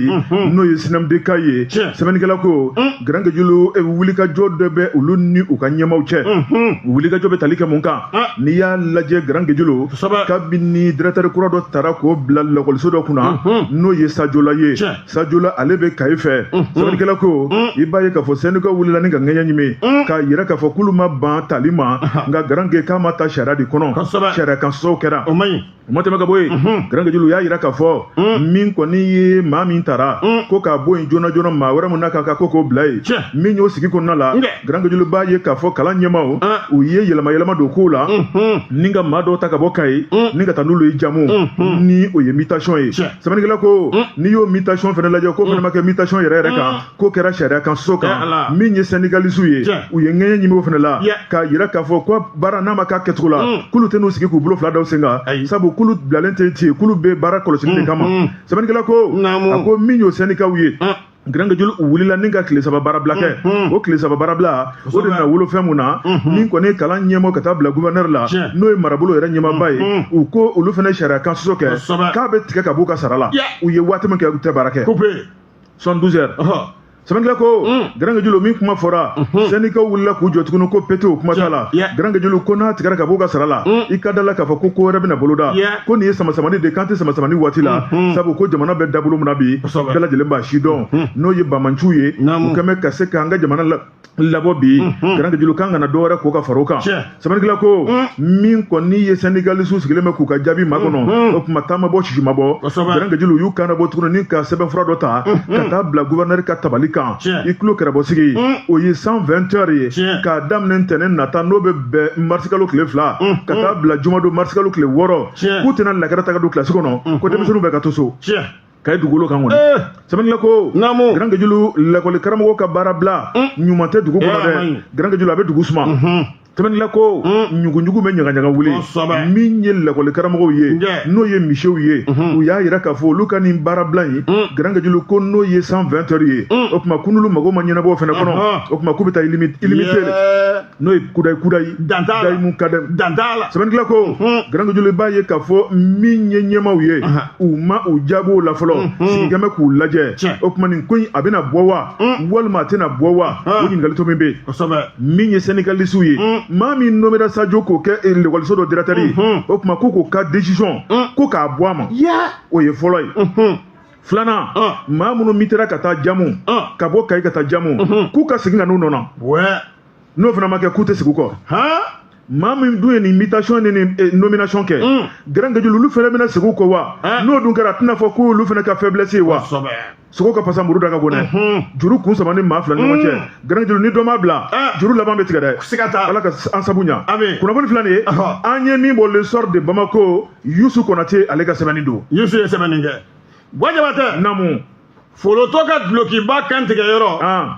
S1: n'o ye sinamdk ye sɛbɛnnikɛla ko garankejulu wulikajɔ dɔ bɛ olu ni u ka ɲɛmaw cɛ wulikajɔ bɛ tali kɛ mun kan n'i y'a lajɛ garankejulu kabini directeur kura dɔ tara k'o bila lakɔliso dɔ kunna n'o ye sajola ye sajola ale bɛ kayi fɛ sɛbɛnnikɛla ko i b'a ye k'a fɔ sɛndika wulila ni ka ŋɛɲɛ ɲimi k'a yira k'a fɔ k'olu ma ban tali ma nka garanke k'a ma ta sariya de kɔnɔ sariya kan sɔsɔ kɛra o man ɲi o ma tɛmɛ ka bɔ yen garankejulu y'a yira k'a fɔ min kɔni ye maa min tara ko k'a bɔ yen joona joona maa wɛrɛ min n'a ka kan ko k'o bila yen min y'o sigi kɔnɔna la garankejulu b'a ye k'a fɔ kalan ɲɛmaw ah. u ye yɛlɛma yɛlɛma don kow la mhm. ni ka maa dɔw ta ka bɔ kayi mm. ni ka taa n'olu ye jamu mhm. ni o ye mutation ye sɛbɛnnikɛla ko mm. n'i y'o mutation fana lajɛ k'o mm. fana ma kɛ mutation yɛrɛ yɛrɛ kan k'o kɛra sariya kan sɔsɔ kan eh, min ye syndicalisiw ye u ye ŋɛɲɛ ɲimi o fana la k'a yira k'a fɔ ko baara n'a ma k'a kɛcogo la k'olu tɛ n'u sigi k'u bolo fila da u sen kan sabu k'olu bilalen tɛ ten k'olu bɛ baara kɔlɔsili de kama sɛbɛnnikɛla ko a ko min y'o syndikaw ye garankejulu wulila ni ka tile saba baarabila kɛ o tile saba baarabila o de nana wolo fɛn mun na min kɔni ye kalan ɲɛmɔ ka taa bila guvɛnɛri la n'o ye marabolo yɛrɛ ɲɛmaba ye u ko olu fana sariya kan sɔsɔ kɛ k'a bɛ tigɛ ka b'u ka sara la u ye waati min kɛ u tɛ baara kɛ soixante-douze heures sɛbɛnnikɛla ko garankejulu min kuma fɔra sɛndikaw wulila k'u jɔ tuguni ko pete o kuma t'a la garankejulu ko n'a tigɛra ka b'u ka sara la i ka da la k'a fɔ ko ko wɛrɛ bɛna boloda ko nin ye samasamani de k'an tɛ samasamani waati la sabu ko jamana bɛ dabolo min na bi bɛɛ lajɛlen b'a si dɔn n'o ye banbaanciw ye u kɛn bɛ ka se k'an ka jamana la labɔ bi garankejulu k'an kana dɔwɛrɛ kɛ ka fara o kan sɛbɛnnikɛla ko min kɔni ye sandikalisiw sigilen bɛ k'u ka jaabi makɔnɔ o tuma ta ma bɔ sisi ma bɔ garankejulu u y'u kan bɔ tuguni ni ka sɛbɛnfura dɔ ta ka taa bila guvɛrɛnɛri ka tabali kan i tulo kɛrɛbɔ sigi o ye cent vingt heures ye k'a daminɛ ntɛnɛn nata n'o bɛ bɛn marisikalo tile fila ka taa bila jumadon marisikalo tile wɔɔrɔ k'u tɛna lakɛrɛ ta ka don kilasi kɔnɔ ko denmisɛnninw bɛ ka to so kayi dugukolo kan kɔni eh. sɛbɛnnikɛla ko naamu garankejulu lakɔli karamɔgɔ ka baarabila mm. ɲuman tɛ dugu kɔnɔ eh, dɛ garankejulu a bɛ dugu suma mhm. sɛbɛnnikɛla ko mm. ɲuguɲugu bɛ ɲagaɲaga wuli min ye lakɔli karamɔgɔw ye n'o ye misew ye mhm. u y'a yira k'a fɔ olu ka nin baarabila in mm. garankejulu ko n'o ye cent vingt heures ye o tuma ko n'olu mago ma ɲɛnabɔ o fana kɔnɔ o tuma k'u bɛ taa illimité n'o ye kudayi kudayi dan t'a la mun ka dɛ dan t'a la sɛbɛnnikɛla ko garange julu i b'a ye k'a fɔ min ye ɲɛmaw ye u ma u jaabi o la fɔlɔ sigikɛ bɛ k'u lajɛ o tuma nin ko in a bɛna bɔ wa walima a tɛna bɔ wa o ɲininkali to min bɛ yen min ye sɛndikalisiw ye maa min nomera sajo k'o kɛ lekɔliso dɔ dirɛkitɛri ye o tuma ko k'o ka décision ko k'a bɔ a ma o ye fɔlɔ ye filanan maa minnu mitera ka taa jamu ka bɔ kayi ka taa jamu k'u ka segin ka n'u nɔ na n'o fana ma kɛ k'u tɛ segin u kɔ han maa min dun ye nin mutation ni nin eh, nomination kɛ Mm. garange julu olu fana bɛna segin u kɔ wa Hein? n'o dun kɛra a tɛna fɔ k'olu fana ka faiblesse ye wa kosɛbɛ sogo ka pasa muru da ka go dɛ Mhm. juru kun samani maa fila ni ɲɔgɔn cɛ Mm. garange julu ni dɔ m'a bila Ah. juru laban bɛ tigɛ dɛ siga t'a la ala ka an sabu ɲa Amin. kunnafoni fila nin ye Ɔhɔ. an ye min bɔ le soir de bamako yusu konate ale ka sɛbɛnni don yusu ye sɛbɛnni kɛ
S2: ko jabatɛ namu
S1: folotɔ
S2: ka dulokiba kan tigɛyɔrɔ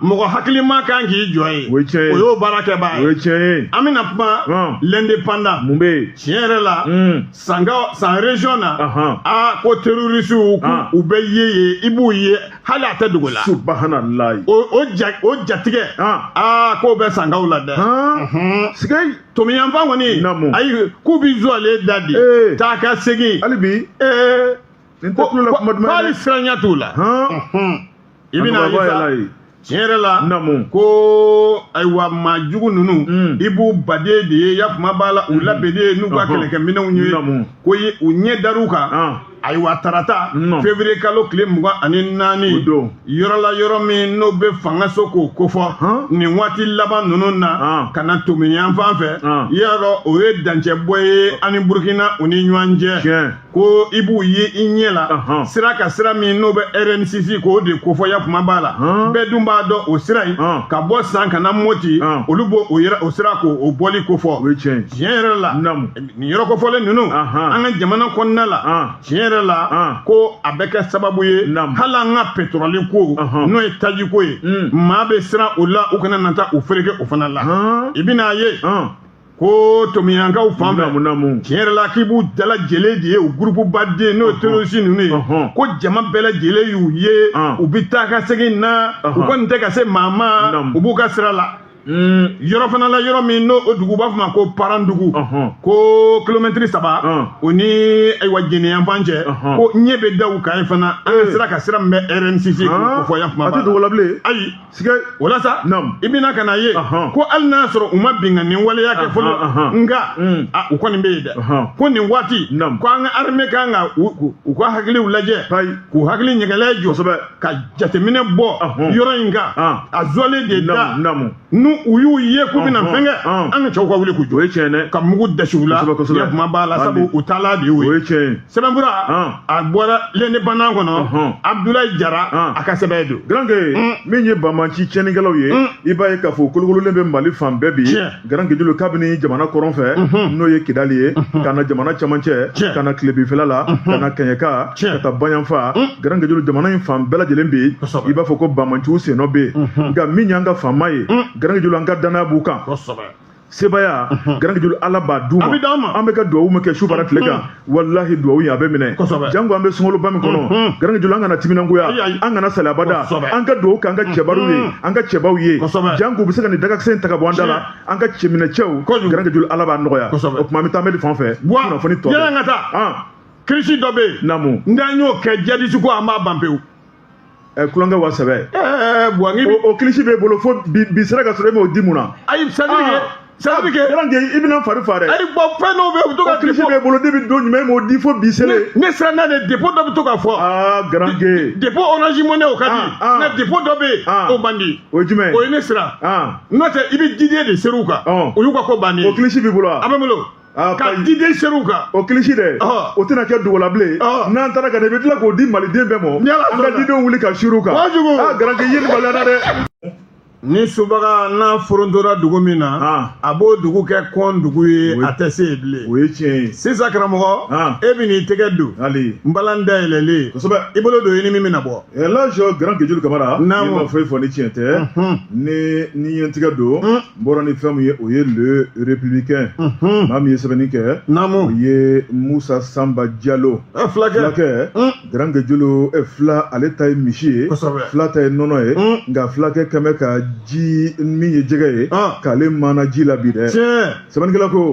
S2: mɔgɔ hakilima kan k'i jɔ ye o y'o
S1: baarakɛbaa
S2: ye
S1: an bɛna kuma
S2: l'indépendant mun bɛ yen tiɲɛ yɛrɛ
S1: la hmm.
S2: san san région na a ko terrorisiw u bɛ ye yen i b'u ye hali a tɛ dogo la
S1: subahanallahi o ja
S2: o jatigɛ a k'o bɛ sankaw la dɛ sigai
S1: tomiyan fan kɔni
S2: ayi k'u bɛ zuwalen da di taa ka segin hali bi ee
S1: Nin tɛ tulo la kuma
S2: duman ye dɛ. Hali siranya t'u la. Hɔn. I bɛna ye Kanubagaba yɛlɛ ye. sa tiɲɛ yɛrɛ la Naamu. ko ayiwa maa jugu ninnu Mm. i b'u baden de ye yan kuma b'a la u labɛnnen ye n'u ka Ɔhɔn. kɛlɛkɛminɛnw ye Naamu. ko ye u ɲɛ dar'u kan Ɔn. ayiwa tarata Non. février kalo tile mugan ani O naani don. yɔrɔ la yɔrɔ min n'o bɛ fangaso k'o kofɔ Ɔn. nin waati laban ninnu na Ɔn. ka na tomiyan fan fɛ Ɔn. i y'a dɔn o ye dancɛbɔ ye ani burukina u ni ɲɔgɔn cɛ Tiɲɛ. ko i b'u ye i ɲɛ la Ahan. sira ka sira min n'o bɛ rn six k'o de kofɔ yan kuma b'a la Han. bɛɛ dun b'a dɔn o sira in Han. ka bɔ san ka na moti Han. olu b'o o yɛrɛ- o sira k'o o bɔli kofɔ o ye tiɲɛ ye tiɲɛ yɛrɛ la Naamu. nin yɔrɔ kofɔlen ninnu Ahan. an ka jamana kɔnɔna la An. tiɲɛ yɛrɛ la An. ko a bɛ kɛ sababu ye Naamu. hali an ka petɔrɔli ko Ahan. n'o ye taji ko ye Mm. maa bɛ siran o la u kana na taa u fereke o fana la An. i bɛna a ye An. ko tomiyankaw fan fɛ tiɲɛ yɛrɛ la k'i b'u dalajɛlen de ye u gurupu baden n'o terorisi ninnu ye ko jama bɛɛ lajɛlen y'u ye u bɛ taa ka segin na u kɔni tɛ ka se maa ma u b'u ka sira la hmm. yɔrɔ fana la yɔrɔ min n'o o dugu b'a fɔ ma ko parandugu ko kilomɛtiri saba o ni ayiwa jɛnɛ yanfan cɛ ko ɲɛ bɛ da u kan yen fana an ka sira ka sira min bɛ rn six kofɔ yan kuma b'a la ayi sike o la sa i bɛ na ka n'a ye ko hali n'a sɔrɔ u ma binkanni waleya kɛ fɔlɔ nka mm. u kɔni bɛ yen dɛ ko nin waati ko an ka armée ka kan ka u ka hakiliw lajɛ k'u hakili ɲɛgɛlɛ jɔ kosɛbɛ ka jateminɛ bɔ yɔrɔ in kan a zɔlen de da n'u u y'u ye k'u bɛna fɛn kɛ an ka cɛw ka wuli k'u jɔ o ye tiɲɛ dɛ ka mugu dasi u la yɛrɛ kuma b'a la sabu u taala de y'o ye o ye tiɲɛ ye sɛbɛnfura a bɔra l'indépendant kɔnɔ abudulayi jara a ka sɛbɛn don garanke min
S1: ye banbanci tiɲɛnikɛlaw ye i b'a ye k'a fɔ kolokololen bɛ mali fan bɛɛ bi garanke julu kabini jamana kɔrɔn fɛ n'o ye kidali ye ka na jamana camancɛ ka na tilebinfɛla la ka na kɛɲɛka ka taa bayanfan garanke julu jamana in fan bɛɛ lajɛlen bɛ i b'a fɔ ko banbanciw sennɔ bɛ yen nka min y'an ka fama ye garanke julu an ka danaya b'u kan sebaya garanke julu ala b'a d'u ma an bɛ ka duwawu min kɛ su fara tile kan walahi duwawu ye a bɛ minɛ janko an bɛ sunkaloba min kɔnɔ garanke julu an kana timinangoya an kana sali abada an ka duwawu kɛ an ka cɛbariw ye an ka cɛbaw ye janko u bɛ se ka nin dagakisɛ in ta ka bɔ an da la an ka cɛminɛcɛw garanke julu ala b'a nɔgɔya o tuma an bɛ taa mɛri fan fɛ kunnafoni tɔ
S2: kirisi dɔ bɛ yen naamu n'an y'o kɛ
S1: jadisi
S2: ko an b'a ban pewu ɛ
S1: tulonkɛ wa sɛbɛ ɛɛ buwangi bi o kilisi b'e bolo fo bi bi sera ka sɔrɔ e m'o di mun na ayi c'est-à-dire que
S2: c'est-à-dire que yɔrɔ i bɛna fari fa
S1: dɛ ayi bon fɛn dɔw bɛ yen u
S2: bɛ to ka kilisi b'e bolo depuis don
S1: jumɛn e m'o di fo bi sele ne siranna de
S2: dépôt dɔ bɛ to ka fɔ aa garanke
S1: dépôt orange
S2: money o ka di nka dépôt dɔ bɛ yen o man di o ye jumɛn o ye ne siran n'o tɛ i bɛ diden de ser'u kan o y'u ka ko bannen ye o kilisi b'i bolo wa a bɛ n bolo Ah, ka diden ser'u kan o kilisi dɛ
S1: ah. o tɛna kɛ dogola bilen ah. n'an taara ka na i bɛ tila k'o di maliden bɛɛ ma an ka didenw wuli ka sur'u kan a garanke i ye nin baliya na dɛ ni
S2: subaga ɲa forontora dugu min na a b'o dugu kɛ kɔndugu ye a tɛ se yen bilen o ye tiɲɛ ye
S1: sisan
S2: karamɔgɔ e bɛn'i tɛgɛ don npalan dayɛlɛlen kosɛbɛ i bolo don i
S1: ni min bɛna
S2: bɔ eh, laji garanke
S1: julu Camara i ma foyi fɔ ni tiɲɛ tɛ ni n ye n tɛgɛ don n bɔra ni fɛn min ye o ye le républicain mhm. maa min ye sɛbɛnni kɛ naamu o ye musa sanba jalo eh, fulakɛ fulakɛ mm. garanke julu eh, fula ale ta ye misi ye fula ta ye nɔnɔ ye mm. nka fulakɛ kɛn bɛ ka ji min ye jɛgɛ ye ah. k'ale maana ji la bi dɛ sɛbɛnnikɛla ko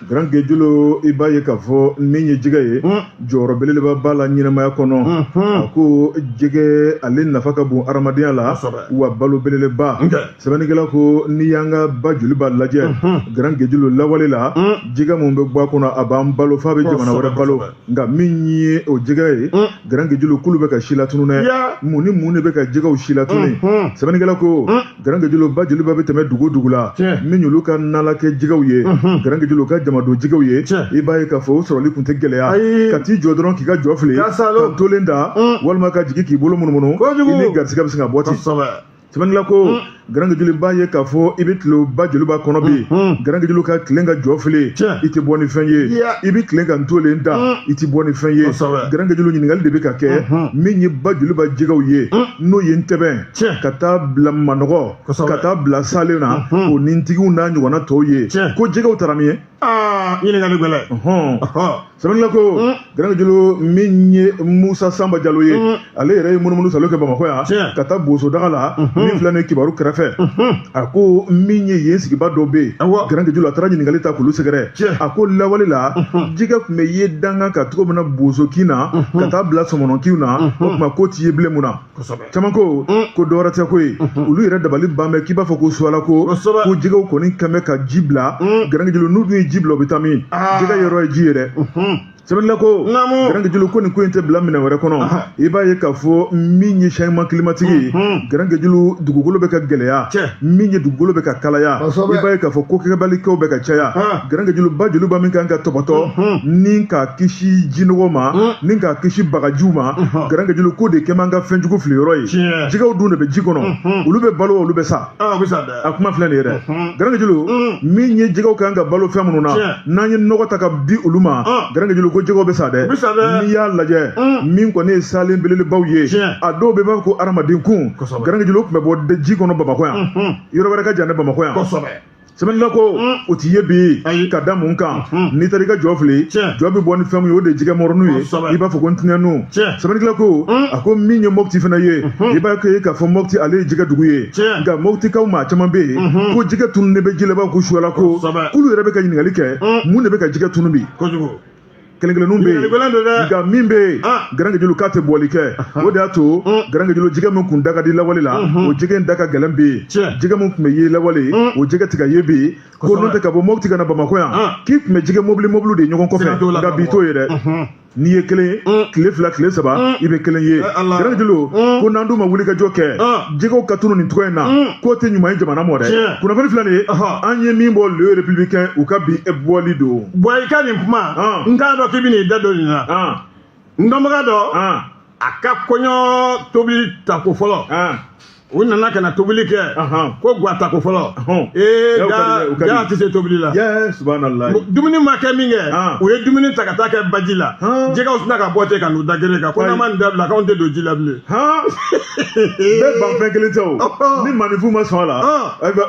S1: garanke julu i b'a ye k'a fɔ min ye jɛgɛ ye mm. jɔyɔrɔ belebeleba b'a la ɲɛnamaya kɔnɔ mhm. a ko jɛgɛ ale nafa ka bon hadamadenya la wa balo belebeleba sɛbɛnnikɛla ko n'i y'an ka bajoliba lajɛ garanke julu lawale la jɛgɛ min bɛ bɔ a kɔnɔ a b'an balo f'a bɛ jamana wɛrɛ balo nka min ye o jɛgɛ ye garanke julu k'olu bɛ ka silatunun dɛ mun ni mun de bɛ ka jɛgɛw silatunun sɛbɛnnikɛla ko garanke julu bajoliba bɛ tɛmɛ dugu dugu la min y'olu ka nalan kɛ jɛgɛw ye garanke julu ka jamadon jɛgɛw ye i b'a ye k'a fɔ o sɔrɔli tun tɛ gɛlɛya ka t'i jɔ dɔrɔn k'i ka jɔ fili ka dolen da walima ka jigin k'i bolo munumunu i ni garisɛgɛ bɛ se ka bɔ ten sɛbɛnnila ko mm. garankejulu b'a ye k'a fɔ i bɛ tilen ba joliba kɔnɔ bi mm, mm. garankejulu ka tilen ka jɔ fili i tɛ bɔ ni fɛn ye i bɛ tilen ka ntolen da i tɛ bɔ ni fɛn ye garankejulu ɲininkali de bɛ ka kɛ mm-hmm. min ye ba joliba jɛgɛw ye n'o ye ntɛbɛn ka taa bila manɔgɔ ka taa bila salen na mm-hmm. o ni ntigiw n'a ɲɔgɔnna tɔw ye ko jɛgɛw taara min ye ɲininkali
S2: gɛlɛn sɛbɛnnila
S1: ko garankejulu min ye musa sanba jalo ye ale yɛrɛ ye munumunusaalo kɛ bamakɔ yan ka taa boso daga la min filɛ nin ye kibaru kɛrɛfɛ a ko min ye yen sigiba dɔ bɛ yen garankejulu a taara ɲininkali ta k'olu sɛgɛrɛ a ko lawale la jɛgɛ tun bɛ ye dankan kan cogo min na boso kin na ka taa bila sɔmɔnɔ kin na o tuma k'o tɛ ye bilen mun na caman ko mm. ko dɔwɛrɛ tɛ ko ye mm-hmm. olu yɛrɛ dabali ban bɛ k'i b'a fɔ ko suwala ko ko jɛgɛw kɔni kɛn bɛ ka ji bila mm. garankejulu n'u dun ye ji bila u bɛ taa min ah. jɛgɛ yɔrɔ ye ji ye dɛ mm-hmm. sɛbɛnnila ko garankejulu ko nin ko in tɛ bila minɛn wɛrɛ kɔnɔ i b'a ye k'a fɔ min ye changement climatique ye mm-hmm. garankejulu dugukolo bɛ ka gɛlɛya min ye dugukolo bɛ ka kalaya i b'a ye k'a fɔ ko kɛbalikɛw bɛ ka caya garankejulu ba joliba min kan ka tɔbɔtɔ ni k'a kisi jinɔgɔ ma ni k'a kisi bagajiw ma garankɛ julu k'o de kɛn b'an ka fɛn jugu fili yɔrɔ ye Tiɲɛ. jɛgɛw dun de bɛ ji kɔnɔ Mhm. olu bɛ balo wa olu bɛ sa Ah, oui, ça, a kuma filɛ nin ye dɛ Mhm. garankɛ julu Mhm. min ye jɛgɛw kan ka balo fɛn minnu na Tiɲɛ. n'an ye nɔgɔ ta ka di olu ma Ah. garankɛ julu ko jɛgɛw bɛ sa dɛ U bɛ sa dɛ. n'i y'a lajɛ Mhm. min kɔni ye salen belebelebaw ye Tiɲɛ. a dɔw bɛ b'a fɔ ko adamaden kun Kosɛbɛ. garankɛ julu tun bɛ bɔ de- ji kɔnɔ bamakɔ yan Mhm. yɔrɔ wɛrɛ ka jan ne bamakɔ yan Kosɛbɛ. sɛbɛnnikɛla ko mm. o tɛ ye bi ka da mun kan mm. n'i taara i ka jɔ fili jɔ bɛ bɔ ni fɛn min ye o de ye jɛgɛ mɔrɔnu ye i b'a fɔ ko ntinɛninw sɛbɛnnikɛla ko mm. a ko min ye mɔputi fana ye mm-hmm. i b'a ye k'a fɔ mɔputi ale ye jɛgɛ dugu ye nka mɔputikaw maa caman bɛ yen mm-hmm. ko jɛgɛ tunu de bɛ ji la i b'a fɔ ko suwala ko k'olu yɛrɛ bɛ ka ɲininkali kɛ mun de bɛ ka jɛgɛ tunu bi kelen kelenninw bɛ yen nka min bɛ yen ah. garankejulu k'a tɛ bɔli kɛ ah. o de y'a to mm. garankejulu jɛgɛ min tun da ka di lawale la mm-hmm. o jɛgɛ in da ka gɛlɛn bi yen jɛgɛ min tun bɛ ye lawale mm. o jɛgɛ tɛ ka ye bi yen ko n'o tɛ ka bɔ mɔputi ka na bamakɔ yan ah. k'i tun bɛ jɛgɛ mɔbili mɔbiliw ye ɲɔgɔn kɔfɛ nka bi t'o ye dɛ mm-hmm. n'i ye kelen ye mm. tile fila tile saba i bɛ kelen ye eh, garankejulu ko n'an dun ma wuli ka jɔ kɛ jɛgɛw ka tunu nin cogo in na k'o tɛ ɲuman ye jamana ma dɛ kunnafoni filɛ nin ye an ye min bɔ le républicain u ka bi bɔli don bon i ka nin
S2: kuma n t'a dɔn k'i bɛn'i da don nin na n dɔnbaga dɔ a ka kɔɲɔ tobili tako fɔlɔ u nana ka na tobili kɛ ko gwa tako fɔlɔ ee jaa tɛ se tobili la dumuni ma kɛ min kɛ u ye dumuni ta ka taa kɛ baji la jɛgɛw sinna ka bɔ ten ka n'u da gere kan ko n'aw ma nin dabila k'anw tɛ don ji la
S1: bilen bɛɛ ban fɛn kelen tɛ o ni maninfin ma sɔn a la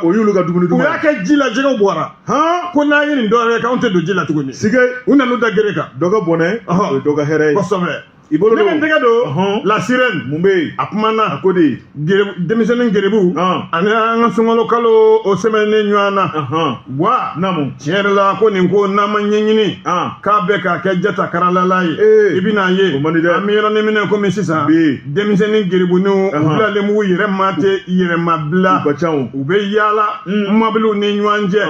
S1: o y'olu ka dumuni dun u y'a kɛ ji la jɛgɛw
S2: bɔra hɔn ko n'an ye nin dɔwɛrɛ kɛ k'anw tɛ don ji la tuguni sike u nan'u da gere kan dɔ ka bɔnɛ Ɔhɔ. o
S1: ye dɔ ka hɛrɛ ye kosɛbɛ i bolo ne bɛ
S2: n tɛgɛ don Ɔhɔn. la sirène mun bɛ yen a kumana a ko de ye gere- denmisɛnnin gerebu Ɔn. ani an ka sunkalo kalo o sɛmɛnen ɲɔgɔn na Ɔhɔn. wa naamu tiɲɛ yɛrɛ la ko nin ko n'an ma ɲɛɲini Ɔn. k'a bɛ k'a kɛ jata karalala ye Ee. i bɛna ye O man di dɛ. an bɛ yɔrɔnin min na komi sisan Bi. denmisɛnnin gerebuniw u Ɔhɔn. bilalen b'u yɛrɛ ma tɛ yɛrɛmabila u ka ca o u bɛ yaala Mm. mɔbiliw ni ɲɔgɔn cɛ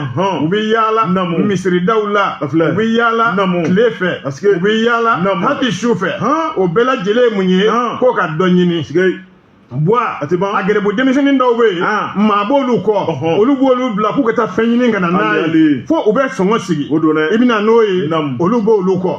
S2: u bɛ yaala misiridaw la u bɛ yaala tile fɛ u bɛ yaala hali su fɛ o bɛɛ lajɛlen ye mun ye k'u ka dɔ ɲini bɔn a gerebu denmisɛnnin dɔw bɛ yen ah. maa b'olu kɔ olu b'olu bila k'u ka taa fɛn ɲini ka na n'a ye fo u bɛ sɔngɔ sigi i bɛna n'o ye olu b'olu kɔ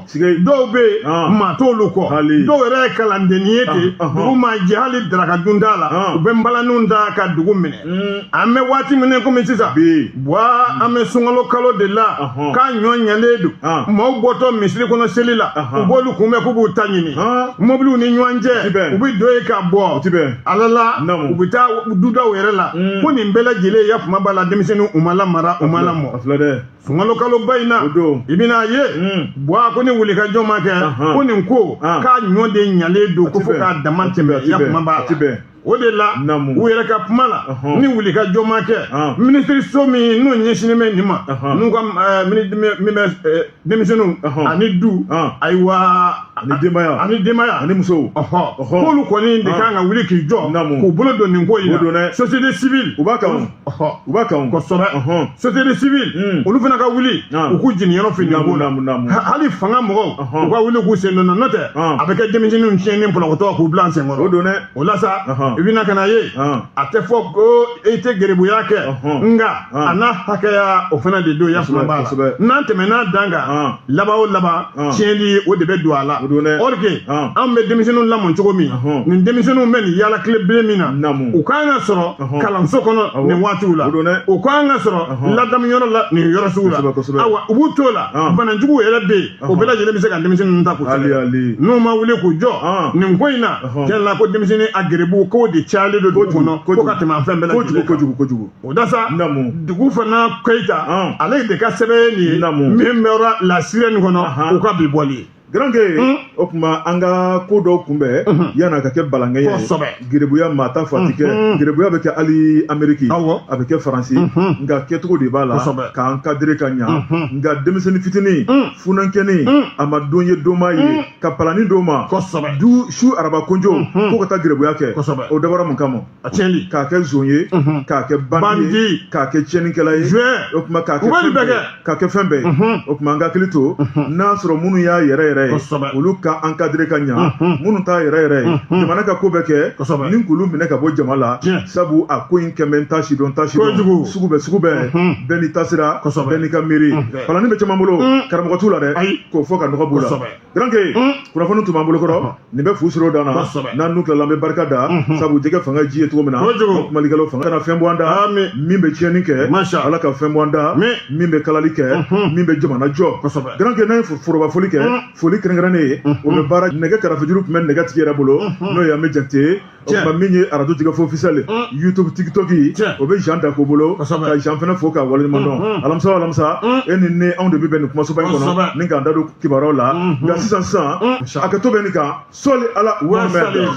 S2: dɔw bɛ yen ah. maa t'olu kɔ dɔw yɛrɛ ye kalandennin ye ten ah, dugu ma jɛ hali daraka dun t'a la u bɛ npalanniw ta ka dugu minɛ hmm. an bɛ waati min komi sisan bɔn an bɛ sunkalo kalo de la k'a ɲɔ ɲalen don maaw bɔtɔ misiri kɔnɔ seli la u b'olu kunbɛn k'u b'u ta ɲini mɔbiliw ni ɲɔgɔn cɛ u bɛ don yen ka bɔ ala la u bɛ taa dudaw yɛrɛ la ko nin bɛɛ lajɛlen yafama b'a la denmisɛnninw u ma lamara u ma lamɔ sunkalo kaloba in na i bɛna ye bɔn ko ni wulikajɔ ma kɛ ko nin ko k'a ɲɔ de ɲalen don ko fo k'a dama tɛmɛ yafama b'a la o de la u yɛrɛ ka kuma la ni wulikajɔ ma kɛ minisiriso min n'o ɲɛsinnen bɛ nin ma n'u ka min bɛ denmisɛnninw ani du ayiwa ani denbaya ani denbaya ani musow k'olu kɔni de kan ka wuli k'i jɔ k'u bolo don nin ko in na société civile u b'a kan u b'a kan kosɛbɛ société civile hmm. olu fana ka wuli u k'u jeniyɔrɔ fin nin na hali fanga mɔgɔw u ka wuli k'u sen don a la n'o tɛ a bɛ kɛ denmisɛnninw tiɲɛnen pɔlɔkɔtɔ k'u bila sen kɔrɔ o don dɛ o la sa i bɛna ka n'a ye a tɛ fɔ ko i tɛ geribuya kɛ nka a n'a hakɛya o fana de don yafama b'a la n'an tɛmɛna dan kan laban o laban tiɲɛni o de bɛ don a la or que anw bɛ denmisɛnninw lamɔ cogo min nin denmisɛnninw bɛ nin yaala tile bilen min na u kan ka sɔrɔ kalanso kɔnɔ nin waatiw la u kan ka sɔrɔ ladamuyɔrɔ la nin yɔrɔ sugu la awa u b'u to la banajugu yɛrɛ bɛ yen o bɛɛ lajɛlen bɛ se ka denmisɛnnin ninnu ta k'u sɛbɛn n'u ma wuli k'u jɔ nin ko in na tiɲɛ la ko denmisɛnnin a geribu k'o de cayalen don dugu kɔnɔ ko ka tɛmɛ an fɛn bɛɛ lajɛlen kojugu kojugu o da sa Dugufana Keyita ale de ka sɛbɛn ye nin ye min bɛ sɔrɔ la sirène kɔnɔ o ka bi bɔli ye garanke hmm?
S1: o tuma an ka ko dɔw kunbɛn hmm. yanni a ka kɛ balankɛ ye gerebuya maa t'a fɔ a tɛ kɛ hmm. gerebuya bɛ kɛ hali ameriki a bɛ kɛ faransi nka kɛcogo de b'a la k'a encadrer ka ɲa nka denmisɛnnin fitinin funankɛnin a ma don ye donma ye ka palannin d'o ma du su araba konjo ko ka taa gerebuya kɛ o dabɔra mun kama a tiɲɛli k'a kɛ zon ye k'a kɛ bandi ye k'a kɛ tiɲɛnikɛla ye o tuma k'a kɛ fɛn bɛɛ ye o tuma an ka hakili to n'a sɔrɔ minnu y'a yɛrɛ yɛrɛ ye olu ka ankadire ka ɲa minnu t'a yɛrɛ yɛrɛ ye jamana ka ko bɛ kɛ ni k'olu minɛ ka bɔ jama la sabu a ko in kɛmɛ ta sidɔn ta sidɔn sugu bɛɛ sugu bɛɛ bɛɛ n'i taasira bɛɛ n'i ka miiri kalani bɛ caman bolo karamɔgɔ t'u la dɛ k'o fɔ ka nɔgɔ b'u la garanke hmm. kunnafoni tun b'an bolo kɔrɔ ah. nin bɛ fu siri o dan na n'an n'u tilala an bɛ barika da hmm, hmm. sabu jɛgɛ fanga ji ye cogo min na kumalikɛlaw fanga kana fɛn bɔ an da ah, min bɛ tiɲɛni kɛ ala ka fɛn bɔ an da min bɛ kalali kɛ min bɛ jamana jɔ garanke n'an ye foroba foli kɛ foli kɛrɛnkɛrɛnnen ye o bɛ baara nɛgɛ karafejuru tun bɛ nɛgɛ tigi yɛrɛ bolo n'o ye an bɛ jate o tuma min ye arajo jɛkafɔ officiel youtube tiktok o bɛ jean dako bolo ka jean fana fo k'a waleɲuman dɔn alamisa o alamisa e ni ne anw de bɛ bɛn nin kumasoba in kɔnɔ ni k'an da don kibaruyaw la nka sisan sisan a ka to bɛ nin kan sɔli ala wɛrɛ